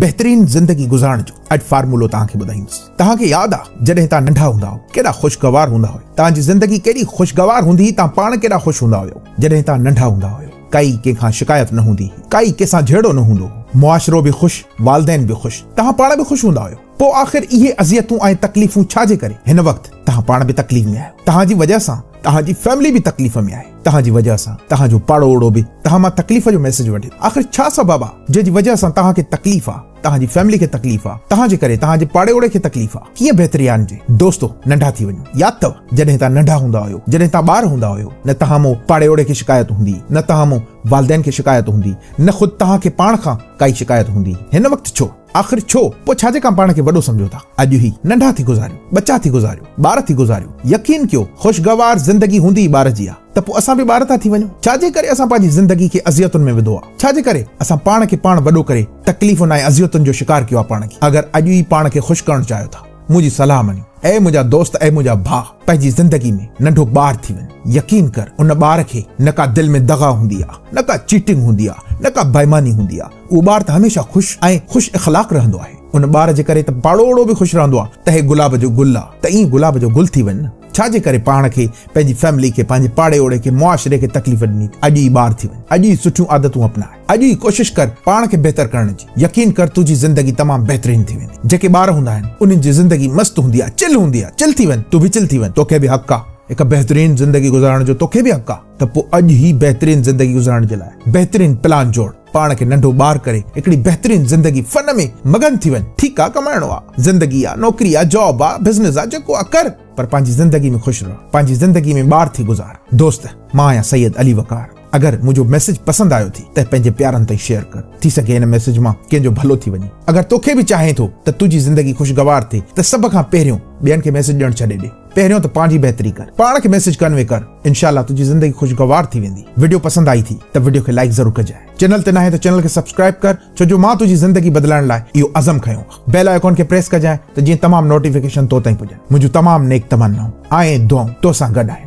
بهترين زندگي گذارڻ جو اڄ فارمولو توهان کي ٻڌائيندس توهان کي ياد آ جڏهن توهان ننڍا هوندا هئو ڪيڏا خوشگوار هوندا هئو توهان جي زندگي ڪيڏي خوشگوار هوندي هئي توهان پاڻ ڪيڏا خوش هوندا هيو جڏهن توهان ننڍا هوندا هيو ڪائي ڪنهن کان شڪايت نه هوندي هئي ڪائي ڪنهن سان جهيڙو نه هوندو هو معاشرو به خوش والدين به خوش توهان پاڻ به خوش هوندا هيو پو آخر اهي اذيتون ۽ تڪليفون ڇا جي ڪري هن وقت توهان پاڻ به تڪليف ۾ آهيو توهان جي وجهه سان توهان جي فيملي به تڪليف ۾ آهي. توهان جي وجهه سان توهان جو پاڙو اوڙو به توهان مان تڪليف جو ميسيج وٺي آخر ڇا سبب آ جنهن جي وجهه سان توهان کي تڪليف آ توهان جي فيملي کي تڪليف آ توهان جي ڪري توهان جي پاڙي اوڙي کي تڪليف آ ڪيئن بهتري آڻجي دوستو ننڍا ٿي وڃو ياد ٿو جڏهن توهان ننڍا هوندا هيو جڏهن توهان ٻار هوندا هيو نه توهان مون پاڙي اوڙي کي شڪايت هوندي نه توهان مون والدين کي شڪايت هوندي نه خود توهان کي پاڻ کان ڪائي شڪايت هوندي هن وقت ڇو آخر ڇو؟ پوء ڇا جي ڪان پاڻ کي وڏو سمجهو ٿا؟ اڄ هي ننڍا ٿي گذاريون، ٻچا ٿي گذاريون، ٻار ٿي گذاريون. يقين ڪيو، خوشگوار زندگي هوندي ئي ٻار جي آ. ته پوء اسان به ٻار ٿا ٿي وڃون. ڇا جي ڪري اسان پنهنجي زندگي کي اذيتن ۾ وڌو آ؟ ڇا جي ڪري اسان پاڻ کي پاڻ وڏو ڪري تڪليفن ۽ اذيتن جو شڪار ڪيو آ پاڻ کي؟ اگر اڄ ئي پاڻ کي خوش ڪرڻ چاهيو ٿا. منهنجي صلاح مڃ، اي منهنجا دوست، اي منهنجا ڀاء، پنهنجي زندگي ۾ ننڍو ٻار ٿي وڃ. يقين ڪر، ان ٻار کي نه ڪا دل ۾ دغا هوندي آ، نه ڪا چيٽنگ هوندي آ، نه ڪا بيماني هوندي آ. اهو ٻار ته هميشه خوش ۽ خوش اخلاق رهندو آهي. ان ٻار جي ڪري ته پاڙوهڙو به خوش رهندو آ ته هي گلاب جو گل آ، ته ائين گلاب جو گل ٿي وڃ نه. ڇا جي ڪري پاڻ کي، پنهنجي فيملي کي، پنهنجي پاڙي اوڙي کي، معاشري کي تڪليف ڏني ٿي. اڄ ئي ٻار ٿي وڃ. اڄ ئي سٺيون عادتون اپناء. اڄ ئي ڪوشش ڪر پاڻ کي بهتر ڪرڻ جي، يقين ڪر تنهنجي زندگي تمام بهترين ٿي ويندي، جيڪي ٻار هوندا آهن انهن جي زندگي مست هوندي آهي، چل هوندي آهي، چل ٿي وڃ، تون به چل ٿي وڃ، توکي به حق آهي هڪ بهترين زندگي گذارڻ جو، توکي به حق آهي ته پوء اڄ ئي بهترين زندگي گذارڻ جي لاء بهترين پلان جوڙ، پاڻ کي ننڍو ٻار ڪري هڪڙي بهترين زندگي فن ۾ مگن ٿي وڃ، ٺيڪ آهي ڪمائڻو آهي، زندگي آهي، نوڪري آهي، جاب آهي، بزنس آهي، جيڪو آهي ڪر پر پنهنجي زندگي ۾ خوش رهه، پنهنجي زندگي ۾ ٻار ٿي گذار، دوست مان آهيان سيد علي وقار. اگر منهنجو ميسج پسند آيو ٿي ته پنهنجي پيارن تائين شيئر ڪر ٿي سگهي ان ميسج مان ڪنهن جو ڀلو ٿي وڃي اگر توکي به چاهين ٿو ته تنهنجي زندگي خوشگوار ٿي ته سڀ کان پهريون ٻين کي ميسج ڏيڻ ڇڏي ڏي پهريون ته پنهنجي بهتري ڪر پاڻ کي ميسج ڪنوي ڪر انشاء الله تنهنجي زندگي خوشگوار ٿي ويندي وڊيو پسند آئي ٿي ته وڊيو کي لائيڪ ضرور ڪجاء چينل تي ناهين ته چينل کي سبسڪرائيب ڪر ڇو جو مان تنهنجي زندگي بدلائڻ لاء اهو عزم کنيو آ بيل آئيڪون کي پريس ڪجاء ته جيئن تمام نوٽيفڪيشن تو تائين پڄن منهنجون تمام نيڪ تمنائون آئين دعائون تو سان گڏ آهن.